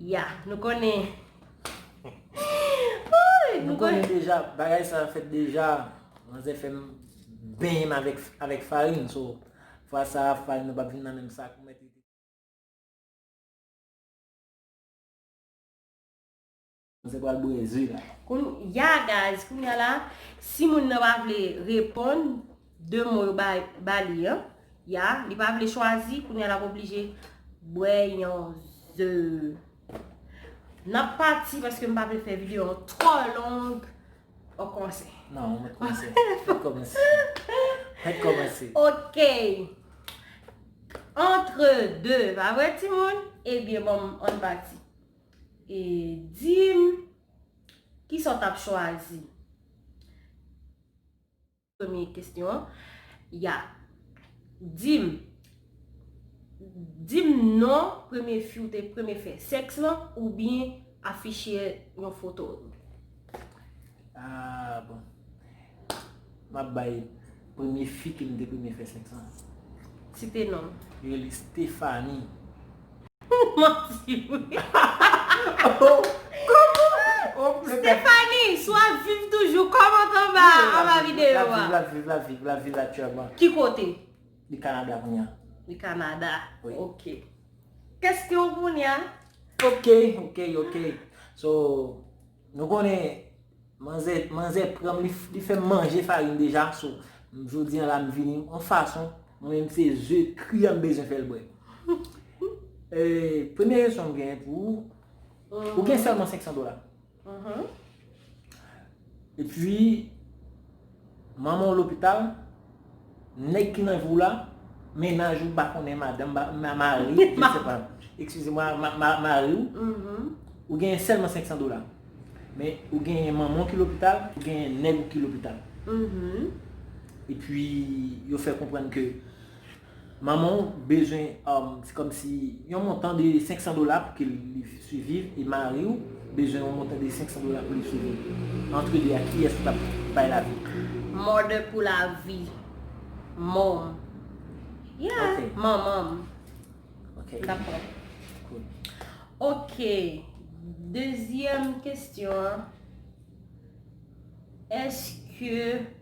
Ya, nou konnen. Nou konnen deja, bagay sa fèt deja. Manzè fèm benyen m avèk farin. So, fwa sa farin nan pa vin nan menm sak. Se pral breze la. Kon ya guys kon ya la si moun nan pa vle reponn de mo yo ba li an ya li pa vle chwazi kon ya la oblije bwe yon ze nap pati paske m pa vle fè video an tro long o konse nan mwen konse mwen konse mwen konse ok entre 2 pa vre ti moun e byen bon m an pati. E dim kisa w tap chwazi? Premye kesyon an, ya. Dim, dim non premye fi ou te premye fè sèks lan oubyen afiche yon foto l. Aah bon. Map bay premye fi ke m te premye fè sèks lan. Site non. Yo rele Stephanie. Ou manti wi. Stephanie, si w ap viv toujou, kòmante anba anba videyo a. Lap viv, lap viv, lap viv, lap viv aktyèlman. Ki kote? Li Canada kounye a. Li Canada. Oui. Ok. Kesyon w kounye a. Ok, ok, ok. So, nou konnen, manzè, manzè pran m, li fè m manje farin deja. So, jodi an la m vini yon fason, mwen menm se ze kri an m bezwen fè l bwè. Premye kesyon m genyen pou ou, ou gen sèlman 500 dola. Epi manman w lopital, nèg ki nan vi w la, mennaj ou pa konnen madanm, mari, je ne sais pas, excusez moi, mari w, ou genyen sèlman 500 dola. Men ou genyen manman w ki lopital, ou genyen nèg ou ki lopital. Epi yo fè konprann ke. Manman w bezwen se kòm si yon montan de 500 dola pou ke li siviv e mari w bezwen yon montan de 500 dola pou li siviv. Antre 2 a kiyès ki t ap bay lavi? Mother pou lavi. Mom. Yeah, manman m. Ok. Dakò. Good. Ok. Dezyèm kestyon an. Eske.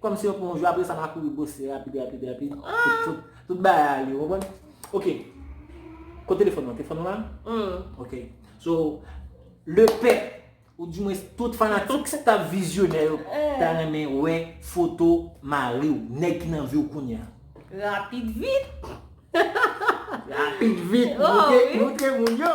Kòm se yon pou yon jou apre sa ma kouri bose rapid rapid rapid pou tout bagay ale ou konprann? Ok Kote telefòn lan? Telefòn lan la? Hum Ok So Le pè ou di mwens tout fanatik ki ta vizyonè yo ta renmen wè foto mari ou, nèg ki nan vi ou kounye a. Rapid vit! Rapid vit! Moutre moun yo!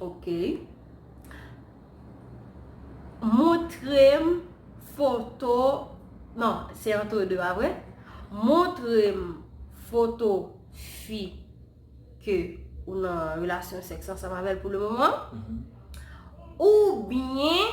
Ok. Montrem foto. Non, se entre deux a vre. Montrem foto fi ke ou nan relasyon sèks ansanm avèl pou le moman. Ou byen.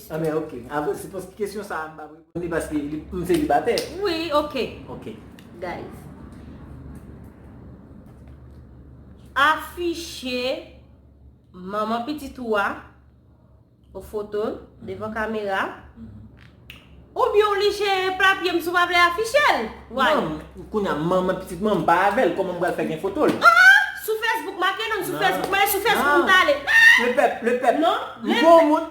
Anben ok. Avan se paske kesyon sa m pa p reponn li paske m selibatè. Wi ok. Ok. Guys. Afiche manman pitit ou a ou foto l devan kamera oubyen w lije papye m si w pa vle afiche l. Why? Non, kounya manman pitit mwen m pa avè l kòman m pral fè gen foto l? An! Sou Facebook make non m sou Facebook mwen sou Facebook m ta ale. Lepèp, lepèp. Non. M gwo moun.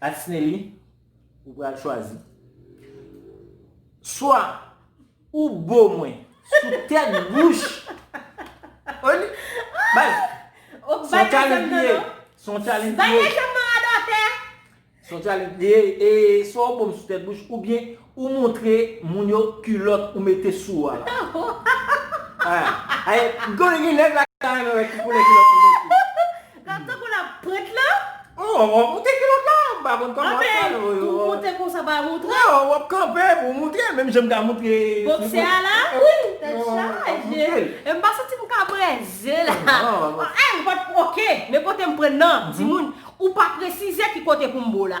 Asneli ou pral chwazi swa ou bo mwen sou tèt bouch ou li baz son challenge li ye son challenge li ye son challenge li ye swa ou bo mwen sou tèt bouch ou byen Ou montre moun yo kulot ou mete sou ou a la. Gen neg la ki ta renmen we ki koulè kulot ou mete. La tankou lap prent la. Ou wap moute kulot la ou pa konn koman wap fèl. Anben pou moute konsa pa moutre. Ou wap kanpe pou moutre menm jan m ta moutre. Boksè a la. Wi. Tet chaje. E m pa santi m ka breze la. An e m pat ok. Men kote m pran nan. Timoun ou pa presize ki kote pou m bo la.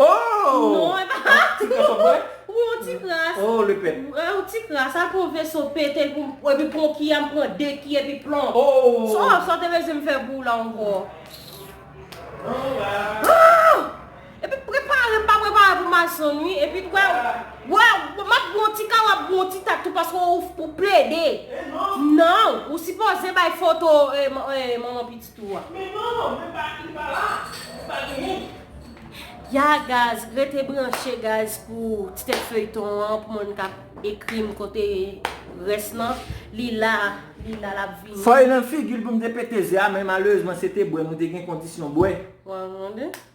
Ooh! Ti kras wap bwè? Wi yon ti kras. Oh le pè. Yon ti kras a pou veso pete pou m epi pou yon ki a m pran 2 ki epi plon. Ooh! Sa w te bezwen m fè pou w la ankò? Bon la. Ooh! Epi prepare m pa prepare pou mason wi epi t wè wè map bwè yon ti ka wap bwè yon ti tat tou paske ou plede. E non. Non, ou sipoze bay foto manman pitit. tou a. Men non non men pa li pa la li pa genyen. Ya gaz rete branche gaz pou ti tèt feyton an pou moun kap ekrim kote rès lan li la li la lap vini. Fòy nan figil poum te pete ze a men malerezman se te bwè nou te gen kondisyon bwè. Waww.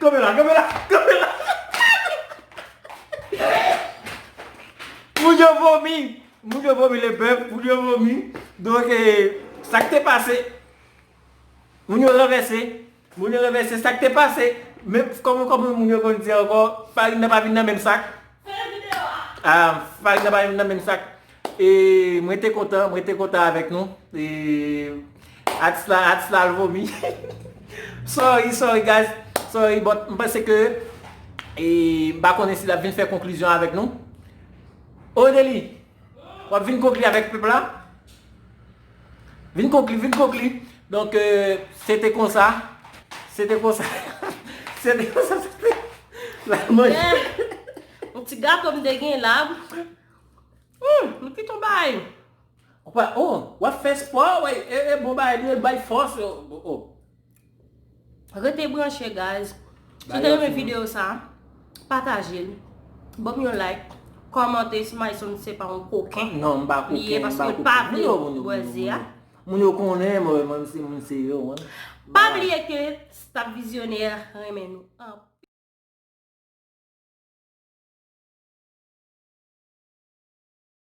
Kanpe la, kanpe la, kanpe la. Moun yo vomi, moun yo vomi le pèp, moun yo vomi. Donk, sa k te pase? Moun yo ranvèse, moun yo ranvèse sak te pase, men kòman kòman moun yo konn di ankò farin nan pa vin nan menm sak. Fèmen video a! Ah farin nan pa vin nan menm sak. E mwen te kontan, mwen te kontan avèk nou. E atis la, atis la al vomi. Sorry, sorry guys, sorry but m panse ke e m pa konnen si l ap vin fè konklizyon avèk nou. Odely, w ap vin konkli avèk pèp la? Vin konkli, vin konkli. Donk, se te konsa. Se te konsa. Se te konsa. La manje. Yon ti gato m te gen la. Hum, m ki ton bay. Ou pa, oh, wap fè spò, wè, e, e, bon bay, nou e bay fòs, oh, oh. Rete branche guys Si w te renmen video sa Pataje l Banm yon like Kòmante si Myson se pa yon koken li ye paske l pa vle bwè ze a Moun yo konnen mwen se moun serye w Pa bliye ke staff Visionnaire renmen nou anpil.